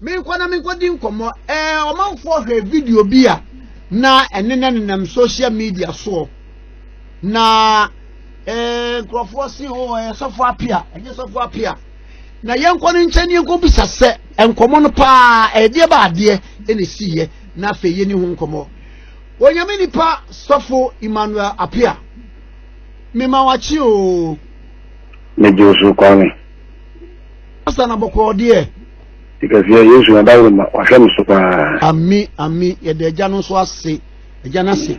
Menkɔ na menkɔdi nkɔmmɔ. Ɛɛ ɔmanfoɔ hwɛ video bi a na ɛne no nenam social media soɔ. Na ɛɛ nkurɔfoɔ se o oh, ɛyɛ sɔfo apia, ɛnyɛ sɔfo apia. na yɛnkɔ no nkyɛn yɛnkɔ bisa sɛ nkɔmɔ no paa ɛdeɛ ba adeɛ ɛna esiiɛ na afei yɛni ho nkɔmɔ onyame nipa sɔfo emmanuel apia mema wakye oo. megye osu kwane. Pastor na bɔkɔɔ deɛ. Kɛseɛ Yesu na daworo ma wahwɛ me so paa. Ami ami yɛde agya no nso ase agya no ase.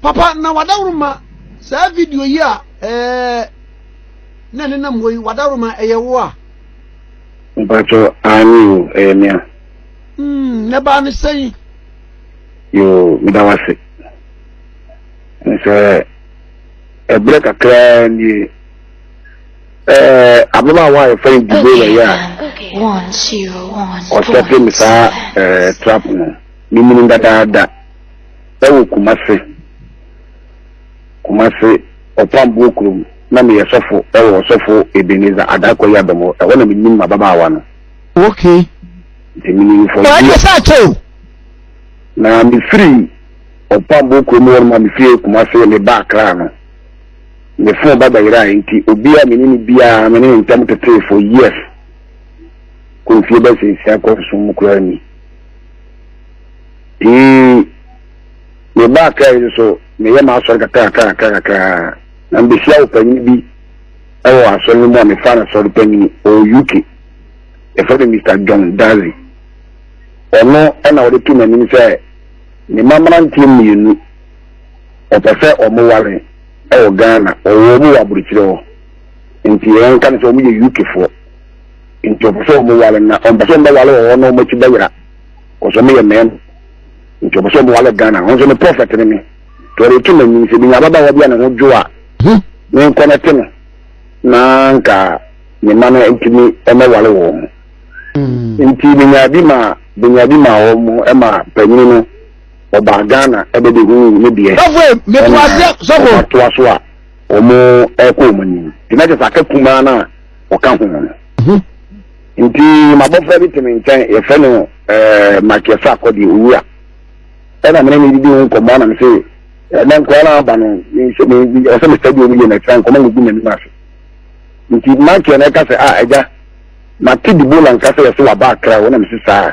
Papa na wadaworo ma saa video yi a ɛɛ na ɛne nam hɔ yi wadaworo ma ɛyɛ wo a. Mpatsɔ ani o ɛyɛ mia. Hmm ne baa ne sɛn. Yoo meda wase. Nsɛ ɛbrɛ kakraa nie. Eh, ababaawa a yɛfrɛ no Dibora yɛ a ɔsɛte me saa eh, trap no memunu dadaada ɛwɔ Kumase Kumase ɔpamboɔ kurom na meyɛ sɔfo ɛwɔ ɔsɔfo Ebenezer Adakɔ yi abɛmɔ ɛhɔ na menim m'ababaawa no okay nti menim fɔ na mefiri ɔpamboɔ kurom hɔ no ma mefiri Kumase meba Accra no me fon ba bɛyerae nti obi a me ne no biara me ne ne ntam tetee for years kɔ mfie bɛsɛ nsia kɔ nso mu koraa ni ee me ba akra yi nso meyɛ m'asɔre kakra kakra kakra kakra na mbehyia wɔ panyin bi ɛwɔ asɔre no mu a mefa no sɔre panyin ɔwɔ uk yɛfrɛ no mr john dazi ɔno ɛna ɔde to n'anim sɛ ne ma mmeranteɛ mmienu ɔpɛ sɛ ɔmo ware ɛwɔ Ghana ɔwɔ ɔmo wɔ aburukyerɛ hɔ nti yɛn nka no sɛ ɔmo yɛ UK foɔ nti ɔpɛ sɛ ɔmo ware na ɔmpɛ sɛ ɔmo bɛ ware wɔ hɔ na ɔmo akyi bɛyera kɔsɛ ɔmo yɛ mɛɛm nti ɔpɛ sɛ ɔmo ware Ghana ɔmo sɛ ne prɔfɛt ne me tɔre to n'anim sɛ binya ababaawa bi a ne ho dwo a ne nkɔ no te no na nka ne ma no ntumi ɛmɛ ware wɔ ɔmo nti binya bi ma binya bi ma ɔmo ɛma panyini no ɔbaa Ghana ɛbɛbɛhuu ne deɛ ɛna atoa so a wɔn ɛkɔ wɔn anim nti na kyɛ sɛ aka kumaa no a ɔka ho no mhm. nti mabɔfra bi te me nkyɛn yɛfrɛ no ɛɛ makiasa akɔdeɛ owura ɛna mene ne didi ho nkɔmmɔ anam sɛ ɛnɛ nkɔla no aba no ɔsɛ mesɛ deɛ ɔmuyɛ no ɛkyerɛ nkɔmmɔ no gu m'anim ase nti makiɛ no ɛka sɛ a agya mate dibola nka sɛ yɛsɛ waba akra wɔnam se saa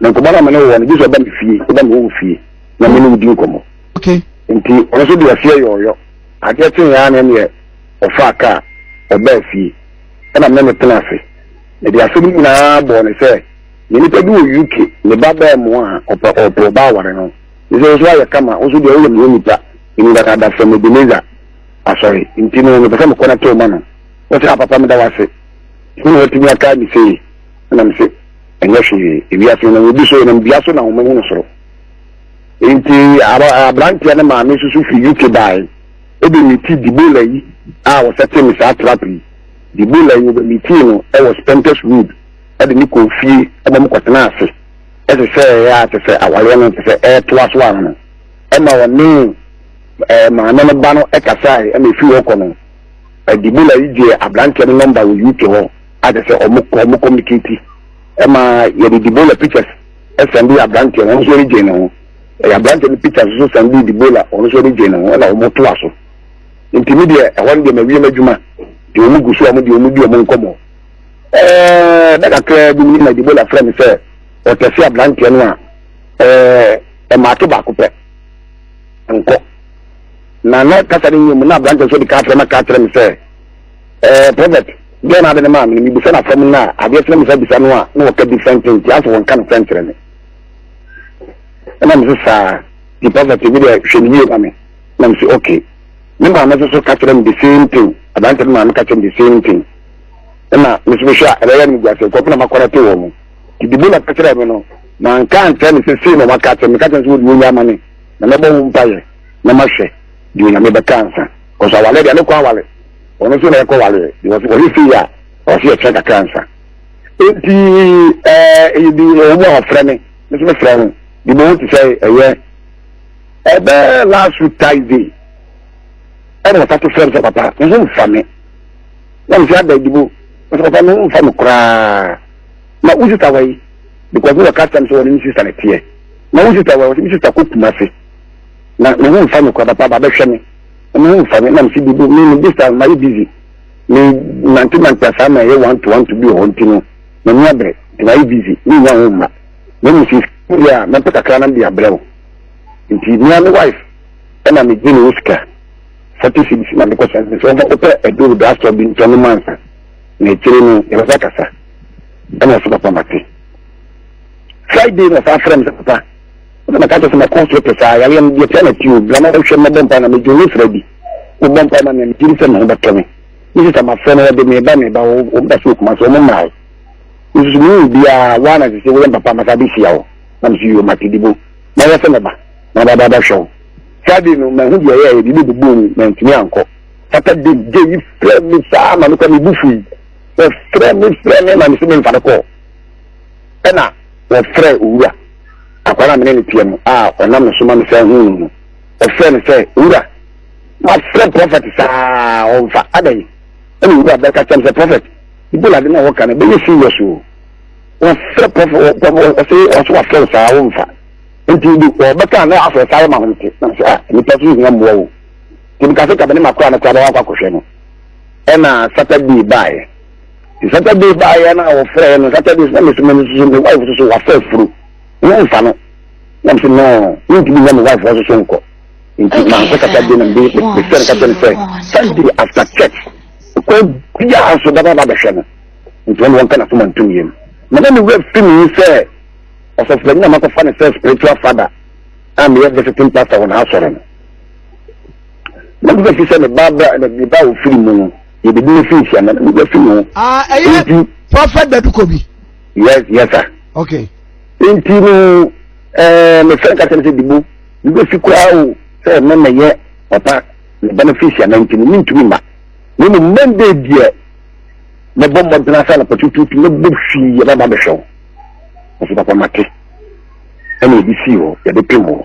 na nkɔmɔ na mene wɔ no gyesɛ ɔba me fie ɔba me wɔwo fie na mene wodi nkɔmɔ nti ɔno so deɛ ɔseɛ yɔɔyɔ adeɛ kye yaa ne neɛ ɔfaa kaa ɔbaa fie ɛna mene ne tena ase mede asɛm nyinaa bɔɔ ne sɛ ne nipa bi wɔ uk ne ba bɛɛ mu a ɔpɛ ɔpɛ ɔba aware no ne sɛ nso ayɛ kama nso deɛ woyɛ meyɛ nipa ɛni daka da fam ebeneza asɔre nti no mepɛ sɛ mekɔ no tɛw ma no wɔsɛ apapa meda wase ɛna watumi aka ne sei nam se ɛnyɛ hwee ewiase na obi so nam dua so na wɔn ahunu soro nti aberanteɛ ne maame soso fi uk bae ebi mi ti dibola yi a wɔsɛ te ne saa trap yi dibola yi wɔbɛ mi ti no ɛwɔ spenters road ɛde ne kɔ fie ɛbɔ mo kɔtena ase ɛte sɛ ɛyɛ a te sɛ awareɛ no te sɛ ɛɛtoa so ano ɛma wɔne ɛɛ maame no ba no ɛkasae ɛma efi hɔ kɔ no ɛdibola yi gye aberanteɛ no nɔmba wɔ uk hɔ. a kyerɛ sɛ ɔmo ɔmo communicate ɛma yɛde dibola pictures ɛsɛnde aberanteɛ no ɔno nso regye ne ho ɛyɛ aberanteɛ no pictures nso sɛnde dibola ɔno nso regye ne ho ɛna ɔmo to aso nti mi deɛ ɛhɔ no deɛ ma wie m'adwuma deɛ ɔmo gu so ɔmo deɛ ɔmo di ɔmo nkɔmɔ ɛɛ na kakra bi na dibola frɛ mi sɛ ɔtɛse aberanteɛ no a ɛɛ ɛmaate baako pɛ nkɔ na na kasa ne nyɛ mu na aberanteɛ nso de kaa frɛ ma kaa kyerɛ mi sɛ. Eh, prophet, deɛ na ade no maa me no, mebisa no afam no a, adeɛ sɛ na mesa bisa no a, na wɔka different thing nti asɛ wɔnka no sɛ nkyerɛ me. Ɛna mese saa, nti prophet bi deɛ hwɛ no yie ma me. Na mese okay. Me maame nso so ka kyerɛ me the same thing. Aberante no maame ka kyerɛ me the same thing. Ɛna mese mehwɛ a ɛbɛyɛ no guasɛ nkurɔfo na makɔrɛte wɔ mu. Nti dibo na ka kyerɛ me no, manka ankyerɛ ne sɛ sei na wɔaka kyerɛ me. Meka kyerɛ no sɛ wode wɔnya ama me na mɛbɔ ho mpayɛ na mahwɛ deɛ onyame bɛka ansa. Cause awale deɛ ne kɔ awale. Ɔno nso na ɛkɔ wale because wɔyɛ sei a ɔsi ɛkyɛ kakra nsa. Eti ɛɛ eyi bi ɛwɔ mu a ɔfrɛ me ne so me frɛ ho de mo ho te sɛ ɛyɛ ɛbɛ last week Thursday ɛna ɔta to frɛ me sɛ papa ne ho nfa me na me sɛ ada adibo me sɛ papa ne ho nfa me koraa na wo sista wɔ yi because ne wɔ ka kyɛm sɛ wɔne ne sista ne teɛ na wo sista wɔ yi wɔsɛ me sista kɔ kuma se na ne ho nfa me koraa papa ba bɛhwɛ me Ɔma ho fa me na mfe bi do me me distance mayɛ busy me nante nante asaa ma ɛyɛ one to one to bi wɔ hɔ nti no m'ani abrɛ nti mayɛ busy me nya ho mma na mu sisi bi a mɛpɛ kakra na mede abrɛ wo nti me a me wife ɛna me gye ne wo sika forty cedis na mekɔ sɛ sɛ ɔfa wopɛ aduro do asɔ bi ntɔ no mansa na akyire no yɛbɛsa kasa ɛna ɔsɛ papa mate friday na ɔfa frɛ me sɛ papa na mɛka kyerɛ sɛ mɛkɔ so te saa yareɛ no deɛ tia na tio bla na hwɛ mɛbɔ mpa na medwo ne sra bi mobɔ mpa ma me megyere sɛ me ho bɛtɔ me ne sisa mafrɛ no wɔde meba meba wɔmda so okuma so ɔmo mmae nsusu me wu biara woa na sese woyɛ mpapa masa bɛhyia wo na meso yio mate dibo na yɛ sɛ mɛba na ɔbaba bɛhwɛ wo Friday no mahu deɛ ɛyɛ ɛyɛ biribi bobɔ mu mantumi ankɔ Saturday gye yi frɛ me saa ma mekɔ me bu fui wɔfrɛ me frɛ me ma me se memfa no kɔɔ Ɛna wɔfrɛɛ Owura, akoa no a me ne no teɛ no, a ɔnam ne so ma me san huu no no, wɔfrɛɛ no sɛ, Owura, mafrɛ prɔfɛt saa a, ɔmfa. Adɛn? Ɛna Owura bɛka kyerɛɛ me sɛ, Prɔfɛt, Ebola ade no a wɔka no, ɛbɛyɛ serious o. Wɔafrɛ prɔfɛt, ɔse, ɔse wɔafrɛ wo saa, womfa. Nti de, wɔbɛka na afrɛ saa yɛ ma ho nte. Na sɛ, ah, nnipa so hia mmoa o. Nti meka sɛ, ka me ne m'akoa no koraa bɛwɔ akɔ akɔhwɛ no. Ɛna Saturday baeɛ. Saturday baayɛ no a wɔfrɛɛ no Saturday na mesɛ mene soso me wife soso wafa afuro ne mfa no na mesɛ no mentumi nya me wife hɔ soso nkɔ nti mankɔ Saturday na mesɛ no ka kyɛ no sɛ Sunday after church kɔ biaa so bɛba ba bɛhwɛ no nti ɔne wɔnka na so mantom yam na na ne wura fi me sɛ ɔsɔfopanyin na makɔfa no sɛ spiritual father a meyɛ visiting pastor wɔ n'asɔre no na mesɛ fi sɛ ne ba ofiri mu no Yɛbɛdi ne fi nhyia na ne mogya fi ne ho. Ah, ɛyɛ Nti- prɔfɛt daduko bi Yes, yes, sir. okay nti no ɛɛ mefrɛ nka sɛ sɛ dibo mebɛsi koraa o sɛ me mɛyɛ papa ne benefice ana nti no mentumi mma na mmom mɛndɛ deɛ mɛbɔ mmɔden asa no patututu mɛbɔ hwii yɛbɛba bɛhwɛ wo ɔso papa mate ɛna ɛde sii hɔ yɛde pem hɔ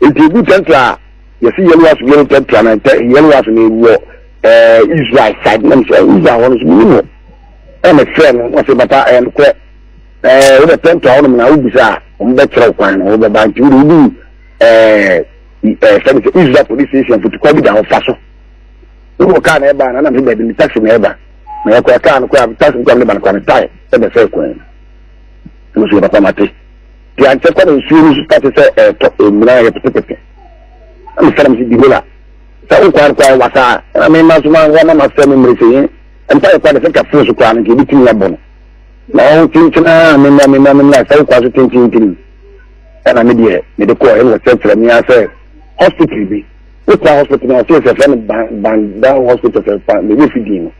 Nti egu tɛntra a yɛsi yɛlwa so yɛn tɛntra na tɛ yɛlwa so na ewɔ ɛɛ Israel side nam sɛ Israel hɔ no so mi mu ɛna fɛ no wɔsi papa ɛyɛ no korɛ ɛɛ wɔbɛ tɛntra hɔ nom na wobisa a wɔn bɛ kyerɛw kwan na wɔbɛ ba nti wɔde odu ɛɛ ɛɛ fɛn sɛ Israel police station fotukɔ bi da hɔ fa so wɔn kaa na ɛba na nam sɛ baabi ne taxi na ɛba na yɛ kɔ kaa no kɔ a taxi kɔ a ne ba no kɔ a ne tae ɛbɛ fɛ kwan no nso yɛ papa ma te. Piankyɛ kɔ na nsuo no so pa te sɛ ɛretɔ ɛmina yɛ petepete na mefɛrɛ m sɛ di hola sɛ wokwaa no kwaa wasa na mema so ma wɔma masɛ me mmere sɛ yɛ mpa yɛ kwa de sɛ kaforo so kwaa no nka ɛbɛtumi abɔ no na ɔho tinkyina mema mema mema sɛ wokwaa so tinkyintini ɛna me deɛ mede kɔɔ ɛna wɔkyerɛkyerɛ me asɛ hospital bi wotɔ hospital na ɔsɛ sɛ fɛn banda hospital fɛ fa na ebi fi din no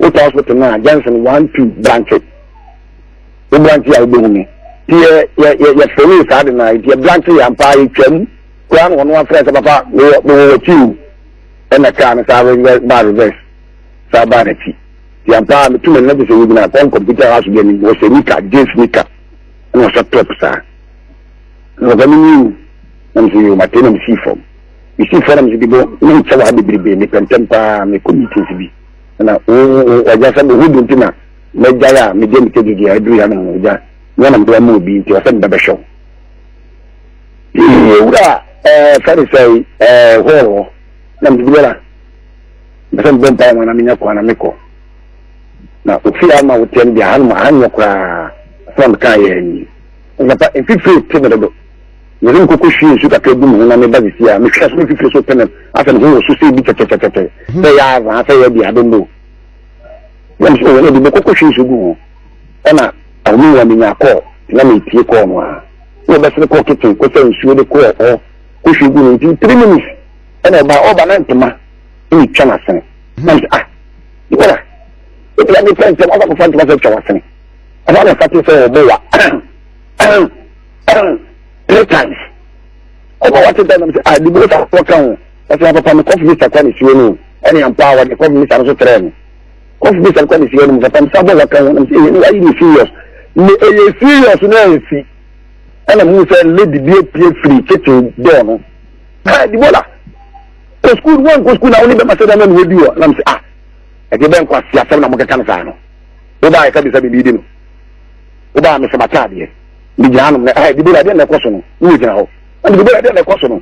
wotɔ hospital na johnson one two branches. wo branche a wobɛhu me nti yɛfrɛ no yɛ saa de no a nti yɛ branche yɛ ampaa yɛtwam koraa na ɔno afrɛ sɛ papa mewɔ wakyi o ɛna kaa no saa baa reverse saa baa n'akyi nti ampaa metu m'ani na gye sɛ wogyina kɔn kɔmputa house bi anim wɔhyɛ nika jeans nika ɛna ɔhyɛ top saa na ɔba me nyiw na mesɛ yɛ ɔmate na mesii fam mesii fam na mesɛ bibɔ ne nkyɛ wɔ ha bebrebe mepɛntɛm paa mekɔ meetings bi na ɔgya sɛ mehu bi nti na Mɛgyae a mede anigye gyegye a ɛduru yɛn ano gya nea na mede ama obi nti, ɔsɛ mebɛbɛhwɛ wo. Pii wura ɛɛ Farisai ɛɛ hɔɔ hɔ na mede bi bɛra. Mepɛ sɛ mebɔ mpae wɔn na menya kwan na mekɔ. Na ofie ama woteɛ no deɛ aha no aha nyɛ koraa sɛ mekaa yɛ ani. Nsapa mfifire te me dodo. Mede me koko hwie nsu kakra gu me ho na meba sisi a mehwɛ so mfifire so te me asɛ me ho wɔ so sɛ ebi kyɛkyɛkyɛkyɛ sɛ yɛ azaa sɛ yɛ deɛ abɛmmɔ. yam so wɔn adi bɛkɔ kɔhwie nsu gu ho ɛna ahome wa menya kɔɔ na metie kɔɔ no a na wɔbɛsere kɔɔ kitchen kɔsɛ nsuo de kɔɔ hɔ kɔhwie gu no nti three minutes ɛna ɔba ɔba na ntoma ɛna twa n'asene na nti ah yɛra ɛtira de pɛ ntɛm ɔba kɔfa ntoma sɛ twa w'asene ɛna na fate sɛ ɔbɔ wa three times ɔba wate dɛ nam sɛ ah de bi wɔ sa wɔka ho Ɔsoma papa no kɔf misa kwa ne suo no o ɛne ampa a wɔde kɔf misa no so trɛ no kɔf misa no kwa ne suo no mu papa misa bɔ wɔka ho nam sɛ ɛyɛ no ayɛ ne serious ne ɛyɛ serious no ansi ɛna mu sɛ lady bi apue firi kitchen door no ha dibola kɔ sukuu wɔn kɔ sukuu na wɔn ne bɛma sɛ dɛm na wɔadi wɔ nam sɛ ah ɛde bɛn kɔ asi asɛm na wɔkeka no saa no wobaa ɛka bisa biribi di no wobaa mesɛ mataadeɛ megyina nom na ha dibola deɛ na ɛkɔ so no ne yɛ gyina hɔ ɛna dibola deɛ na ɛkɔ so no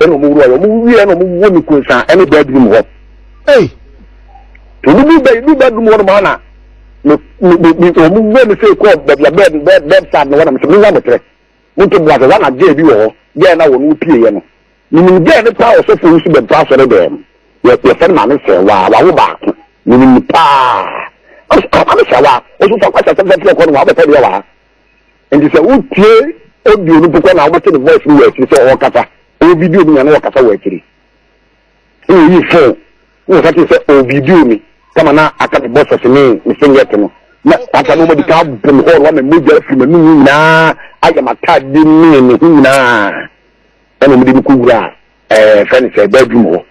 ɛna ɔmo wura yɛ ɔmo wie ɛna ɔmo wɔ ne kunsa ɛne bɛɛdum hɔ ɔmo bi bɛ bi bɛɛdum hɔ nom ana me me me ɔmo wɔ ne sɛ kɔɔ bɛbi a bɛɛd bɛɛd bɛɛd sad ne hɔ na me sɛ me nya mo tɛrɛ mo nto bu ase wɔn na gɛɛ bi wɔ hɔ gɛɛ na wɔn pie yɛ no menim gɛɛ ne paa ɔsɔfo nso bɛ paa sɔre dɛm yɛ yɛ fɛn maame sɛ waa wawo baako menim paa ɔsɔ maame sɛ waa ɔsɔ fɔ akɔsɛ sɛfɛ fɛ kɔ no wa ɔbɛ fɛ deɛ waa. nti sɛ wotie audio no mpo kɔ na wobɛte ne voice no wɔ akyiri sɛ ɔrekasa ɔwɔ video no nya na wɔkasa wɔ akyiri na wɔyi phone na wɔsa te sɛ ɔwɔ video mi kama na aka me bɔsɛs ne me singlet no na aka no ɔmadi ka bɔ me hɔɔl wa me mogya afiri m'anum nyinaa ayɛ m'atadeɛ ne ne ho nyinaa ɛna ɔmde me kɔwura ɛɛ fɛ ne sɛ bɛadwum hɔ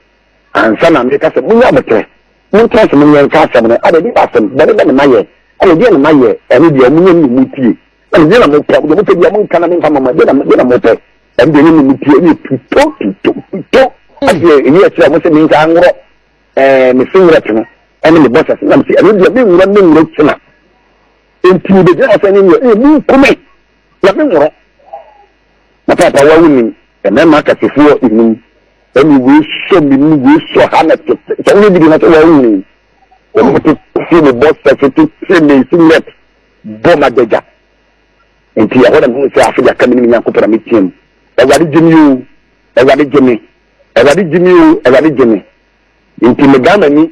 Ansa na meka sɛ, Monyɛ aboterɛ, montena ase, monyɛ nka asɛm no, ada bi ba asɛm, bɔne bɛ na mayɛ, ɛna ɛdeɛn na mayɛ, ɛno deɛ ɔmo nyɛ no na ɔmo tie, na deɛ na mopɛ, deɛ mopɛ deɛ monka na memfa mama, deɛ na deɛ na mopɛ, ɛno deɛ nyɛ na ɔmo tie, ɛyɛ tuto, tuto, tuto, ɛdeɛ ɛyi ɛkyerɛ ɔmo sɛ menka anworɔ, ɛɛ, me singlet no, ɛne me bɔsɛs, na mese, ɛno deɛ menworɔ, menworɔ kyena, nti bɛgyina ɔsɛ ne nyɛ, ɛyɛ mu nkume, Hwɛ me nworɔ. Na papa wa wo nim. Mmarima akasefoɔ nim. Ɛne wei sɔ me mu wei sɔ ha na tete. Sɛ woyɛ bi na sɛ wa wo nim. Wɔn tete fie mo bɔ sɛso tete me si net bɔ ma dagya. Nti ɛhɔ na me hu sɛ afe yaka me ne me nyankopɔn na me teɛ mu. Awurade gye me o. Awurade gye me. Awurade gye me o. Awurade gye me. Nti me dan m'ani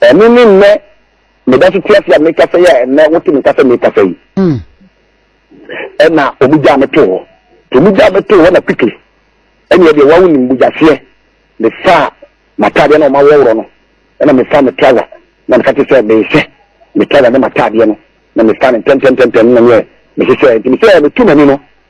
Ɛno ne nnɛ me da so te ase a mekasa yi a ɛnnɛ wote me kasa mekasa yi. Hmm. Ɛna wɔn gyaa me too hɔ. Wɔn gyaa me too hɔ na quickly. Ɛnna deɛ wɔn anim bugyaseɛ ne fa m'ataadeɛ na wɔn awɔworɔ no. Ɛna me fa me trouser na me ka te sɛ mehyɛ me trouser ne m'ataadeɛ no na me fa no ntɛntɛntɛntɛn na me yɛ me hyehyɛ nti me sɛ me tu m'ani no.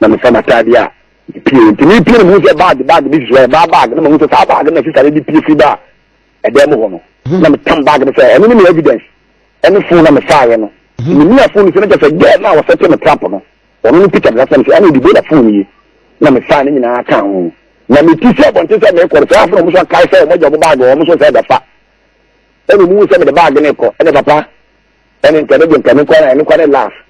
na mefa m'atadeɛ a mepie nti mepie no mehu sɛ bag bag bi sisi hɔ yɛ baa bag na mahu sɛ saa bag na sisa no de pie firi baa ɛdan mu hɔ no mhm. na metam bag no sɛ ɛno ne me evidence ɛne fon na mefaeɛ no mhm. menia fon no sɛ no kyɛ sɛ gɛɛ no a wɔsɛte me trap no ɔno no peter mesa sɛ me sɛ ɛne ɔdibo na fon yi na mefae no nyinaa ka ho na meti sɛ bɔnte sɛ mekɔre sɛ afei ɔmo so akae sɛ ɔmɔgya ɔmo bag ɔmo so sɛ ɛbɛfa ɛna ɔmo wu sɛ mede bag no kɔ ɛne papa ɛne nkɛ ne de nkɛ ne kɔ ne kɔ ne laugh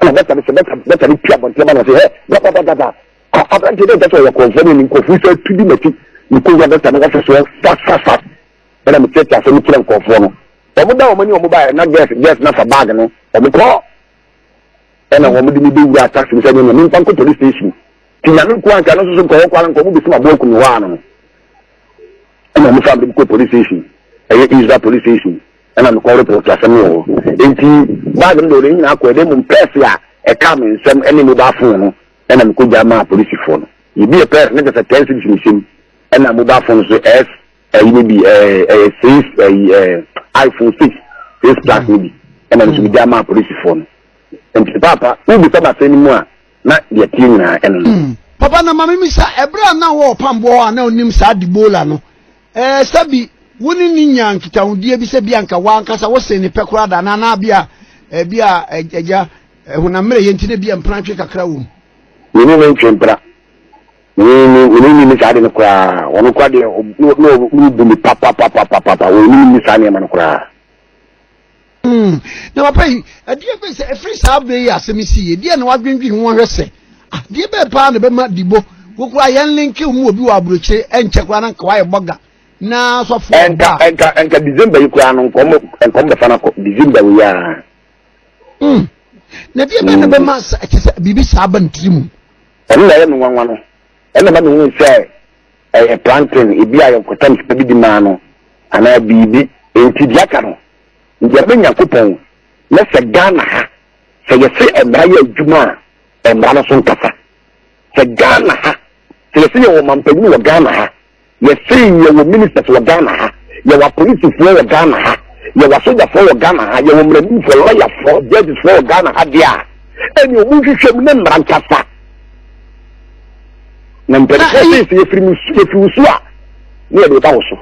ɛna dɔkta no sɛ dɔkta no tu abɔnten ma no sɛ hɛ dɔkɔdɔkɔdɔkɔ aberanteɛ dɛ nkyɛ sɛ ɔyɛ kɔnfoɔ ne nkɔfoɔ sɛ tu bi mati mekɔwura dɔkta no wɔfe soɔ fasfasfas ɛna mekyerɛkyerɛ asɛm kyerɛ nkɔfoɔ no wɔn da wɔn ani wɔn baeɛ na gɛs gɛs na fa baage no wɔn kɔ ɛna wɔn de me bɛwura taxi no sɛ nyɛ nyɛ mfa nkɔ police station ti nyame nko anka no nso so nkɔwɔ kɔ ara nkɔ wɔn bɛsi ma bɔɔ kunu hɔ ano ɛna wɔn fa me kɔ police station ɛyɛ israel police station na mekɔɔ Rut no so, asɛm no wɔ hɔ. Enti bag no de ɔde ne nyinaa kɔe, na mmom pɛɛse a ɛkaa me nsam ne mobile phone no na mikogyaa maa polisifoɔ no. Yebiee pɛɛse no, kyerɛ sɛ ten cedis nhyɛ mu, ɛna mobile phone nso S ayi no bi, ɛyɛ six ayi iPhone six six plus no bi, ɛna nso migyaa maa polisifoɔ no. Nti paapa, wobisa basɛn no mu a, na deɛ ɛteɛ nyinaa ɛno no. Papa na ma mimisa, ɛberɛ a na wɔ ɔpamboɔ hɔ a na wonim saa Debola no, Ɛɛ, sɛbi wo ne no nyaa nkitahodie bi sɛ bi anka w'ankasa wosee ne pɛ koraa da anaa na bi a ɛbi a agya honam mmerɛyɛ nti na bi a mprantwe kakra wɔ mu. Me ne no ntwe mpra. Me ne me ne nni saa ade no koraa. Ɔno koraa deɛ na ɔbu me papapapapapa. Ɔnim nni saa nneɛma no koraa. Hmm, na papa yi ɛdeɛ bɛ sɛ ɛfiri saa bɛ yi asɛm si yɛ deɛ na wadwendwen ho ahwɛ sɛ adeɛ ah, bɛɛ paa na bɛma dibo wokura yɛn linki mu obi wɔ aburokyire ɛnkyɛ kura na nka wayɛ bɔga na sɔfo ɔba ɛnka ɛnka ɛnka december yi kura no nkɔm nkɔm bɛfa na kɔ december yi a. Hmm, na deɛ bɛɛ na hmm. bɛma sɛ ɛkyɛ sɛ biribi saa ba ntiri mu. ɛno na ɛyɛ mi nwanwa no ɛna ma mi hu sɛ ɛyɛ plantain ebi a yɛ nkɔtɔm sɛ bi di maa no anaa biribi nti di aka no. Nyame Nyankopɔn na sɛ Ghana ha sɛ yɛse mmara yɛ adwuma a mmara no so nkasa. Sɛ Ghana ha sɛ yɛse yɛwɔ ɔmanpanyin wɔ Ghana ha, yɛse yɛwɔ ministers wɔ Ghana ha, yɛwɔ apolisifoɔ wɔ Ghana ha, yɛwɔ asogyafoɔ wɔ Ghana ha, yɛwɔ mmaranimfoɔ, lɔyafoɔ, judgesfoɔ wɔ Ghana ha deɛ a, ɛne ɔmu nhwehwɛ mu ne mmara nkasa. Na mpanimfoɔ sɛ sɛ yɛfiri mu yɛfiri wo so a ne yɛde ba wo so.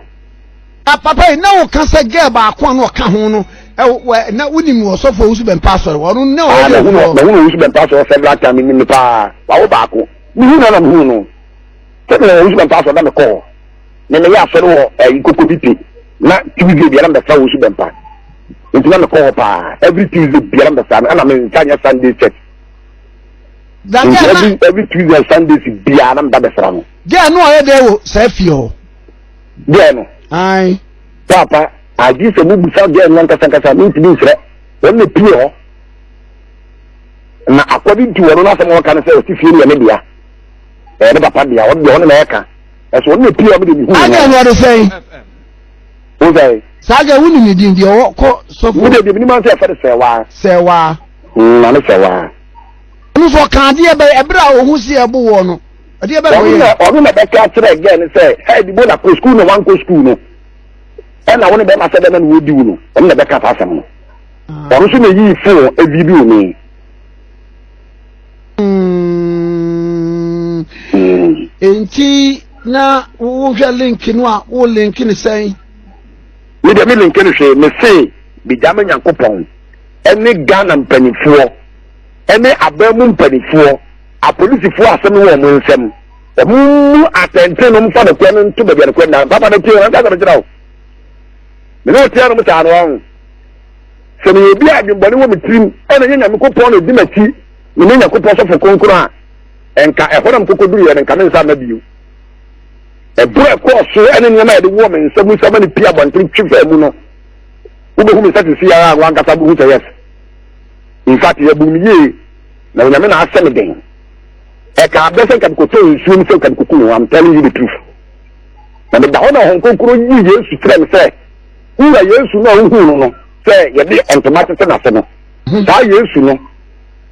Ah, papa yi na woka sɛ girl baako a na ɔka ho no ɛwɔ na wonim ɔsɔfo owusu bɛmpa asɔre wɔn na ɔyɛ ah, ɛwɔ. na wɔn owusu bɛmpa asɔre several times nim no paa wawo baako mihu na na mihu no sɛbi na wɔn owusu bɛmpa asɔre na mi kɔ hɔ na mi yɛ asɔre wɔ ɛyi eh, koko bi pe na tuesday biara mi bɛ fa owusu bɛmpa nti na mi kɔ hɔ paa every tuesday biara mi bɛ fa ɛna mi nfa nyɛ sunday church nti every every tuesday and sunday biara mi ba bɛ fa no. jẹ́ ẹ̀ ní ọ̀yẹ́ dẹ́ wò sẹ́ẹ̀ fi hàn. gɛɛ no ae papa agye sɛ mobusa gɛɛ no ankasankasa mentumi nsrɛ wɔn na pie hɔ na akɔde nti wɔn no asɛm wɔka no sɛ ɔsi fie no yɛ ne dea ɛyɛ ne papa dea ɔno deɛ ɔno na ɛka ɛso ɔno na pie ɔmo de ne hu wɔn agye wɔde sɛn wosɛe saa agye wo ne ne din deɛ ɔwɔ kɔ sɔfo wo deɛ deɛ menim ansɛ ɛfɛ de sɛ waa sɛ waa na ne sɛ waa ɔno nso ɔka adeɛ bɛyɛ ɛberɛ a ɔhu si ɛbo wɔ no ɛdeɛ bɛn na wɔyɛ no ɔno na bɛka akyerɛ gɛɛ no sɛ hɛ dibo na kɔ sukuu na wankɔ sukuu no ɛna wo ne bɛma sɛ bɛma no wɔdi wo no ɔno na bɛka saa asɛm no ah. ɔno nso na ɛyii fon ɛvidio e me hmm. hmm. nti na wohwɛ link no a wo link no sɛn me deɛ me link no hwee me se megya ma nyankopɔn ɛne ghana mpanimfoɔ ɛne abaa mu mpanimfoɔ Apolisifoɔ asɛm no wɔ wɔn nsam. Wɔn mu atɛntene no mfa nokorɛ no nto baabi a nokorɛ nna. Papa no tie wɔn nka asɛm kyerɛ wo. Me ne wo tia nom saa no ɔho. Sɛ meyɛ obi a adwembɔne wɔ me tirim ɛna nyɛ Nyamekopɔn na ɛdi m'akyi ne me Nyakopɔn sɔfo kronkron a ɛnka ɛhɔ na mekɔkɔduruiɛ no nka me nsa mma bio. Ɛborɔ ɛkɔɔ so ɛne nneɛma a yɛde wɔ me nsa mu sama ne pii abɔnten twe faa mu no wobɛhu me sɛ sisi ara a wankasa bohu sɛ yɛs. In fact, yɛbu me yie. Na onyame na asɛ me den. Ɛka abɛ sɛ nka mekɔtɔ nsuo mu sɛ nka mekɔku me ho I'm telling you the truth. Na meda hɔ na Honhom Kronkron yi Yesu kyerɛ me sɛ wura Yesu no a wohuu no no sɛ yɛde ntoma tete n'ase no saa Yesu no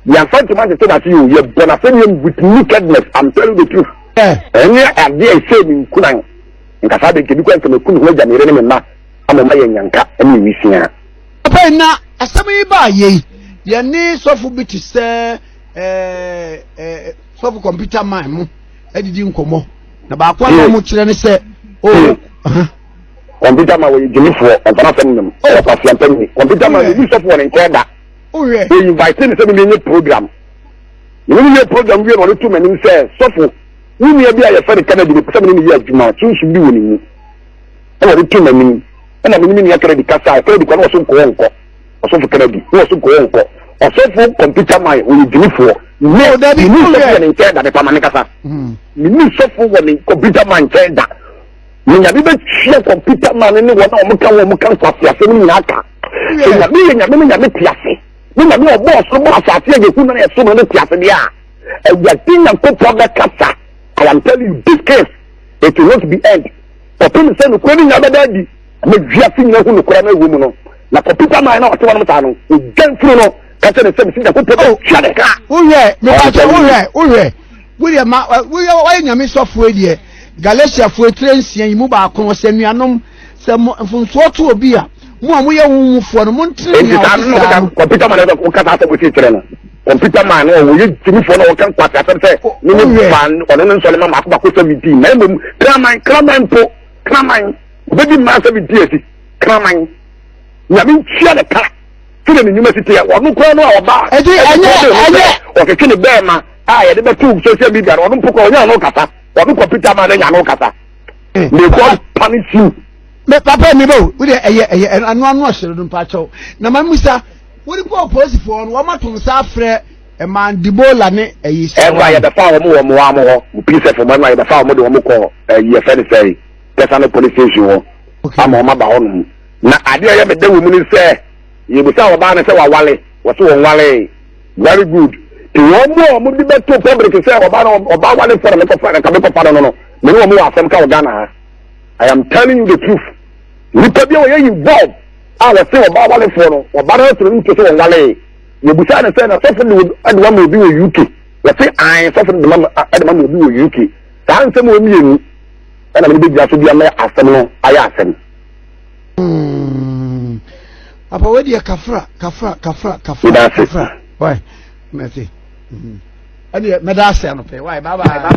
yɛmfa ntoma tete n'ase yɛ o yɛbɔ n'asɛdeɛ with nakedness I'm telling you the truth. Ɛnyɛ adeɛ a ɛsɛ me nkunan nkasa de nkebi kɔ nka meku me ho agya me yere ne me mma ama ɔma yɛ nyanka ne nwisiaa. Pɛn na asɛm yi baa yei yɛne sɔfo bi te sɛ eh, eh, sɔfo kɔmputa man mu adidi nkɔmmɔ na baako a na ɔmo kyerɛ ne sɛ o oh, uh-huh. kɔmputa ma wɔyɛ gyimifoɔ ɔmpana sɛm nom ɛyɛ kwasiampa ni kɔmputa ma yɛbi sɔfo wɔ ne nkyɛn da ɔyinvite ne sɛ mimi nye program mimi nye program wie na ɔde to m'anim sɛ sɔfo wo nua bi a yɛfɛ ne kennedy ne pɛ sɛ mene ne yɛ adwuma sunsun bi wɔ ne mu ɛna ɔde to m'anim ɛna me ne me nua kennedy kasae kennedy kɔ na ɔso nkɔɔ nkɔ ɔsɔfo kennedy na ɔso nkɔɔ nkɔ ɔsɔfo kɔmputa man ɔyɛ gyimifoɔ ne oh, ne ni sɔfo wɔ ne nkyɛn da ne pama ne kasa hmm. ne ni sɔfo wɔ ne kɔmputa man nkyɛn da ne nyame bɛ tia kɔmputa man ne wɔn a wɔn ka wɔn ka nkwasi ase ne nyinaa ka nyame yɛ nyame ne nyame ti ase ne nyame ɔbɔ ɔsoro bɔ asase yɛ yɛhu na ɛso na ne ti ase deɛ a ɛwurade nyankopɔn bɛ kasa I am telling you this case it will not be end Kɔpem sɛ nokorɛ no nyina bɛda adi na wiase nyina hu nokorɛ no ɛwɔ mu no, na kɔpita man na ɔte wɔnom saa no, ogya mfunu no ka kyerɛ ne sɛ, Mese Nyankopɔn, o, tua ne ka! Wohwɛ, mepa kyɛw, wohwɛ, wohwɛ, wodeɛ ma, woyɛ, woayɛ Nyame sɔfoɔ deɛ, Galatiafoɔ tire nsia yi mu baako no, sɛ anuanom, sɛ mo, mfomsoɔ to obi a, Mo a moyɛ wo wofoɔ no, montene nea ɔte saa no. Computer man ɛsɛ wokasa asɛm wosi kyerɛ no. Computer man no wɔyɛ gyimifoɔ na wɔka nkwasi asɛm sɛ ne ne fa ɔno ne nsɔre ma mako mako seventeen na mmom kraman kraman mpo kraman obɛdi mmaa seventeen asi kraman nyame ntua ne ka sɛdeɛ ne nnwuma si teɛ ɔno koraa no a ɔbaa ɔtwetwe ne bɛɛma a yɛde bɛto social media no ɔno mpo koraa ɔnya no kasa ɔno computer man no nya no kasa may God punish you Me papa mi bo, wo de ɛyɛ ɛyɛ ano ano ɔhyere no mpakyɛw. Na ma musa, wo de kɔ apolisifoɔ no, wɔn ato nsa afrɛ ɛmaa Debola ne ɛyi sɛ. Ɛno a yɛbɛfa wɔn wɔ mmoa mo hɔ, mo PSF mo ɛno a yɛbɛfa wɔn de wɔn kɔ ɛyi yɛfɛ ne sɛ Tɛsano police station hɔ ama wɔn aba hɔ nom. Na adeɛ ɛyɛ mede wɔ mu ne sɛ yɛbusa wɔbaa no sɛ wawale, wɔso wɔn walee. Very good. Te wɔn mu a wɔn de bɛto public sɛ wɔbaa no wɔbaa wale fɔrɔ mekɔfa no nka mekɔfa no no no, me ne wɔn wɔ asɛm ka wɔ Ghana ha. I am telling you the truth. Nipa bi a wɔyɛ yi bɔb a wɔte wɔn ba awalefoɔ no wɔn ba no ɛtoro no to so wɔn walee. Yɛbusa ne sɛ na sɔfo de ɛde ma obi wɔ UK. Wɔte an sɔfo de ɛde ma obi wɔ UK. Saa nsɛm wɔ mmienu ɛna mede bɛgyina so bi ama asɛm no ayɛ asɛm. Hmm. Apa wei deɛ kafra kafra kafra kafra kafra. Wai mɛte. Hmm. Ɛdeɛ mɛda ase anɔpɛ. Wai bye bye.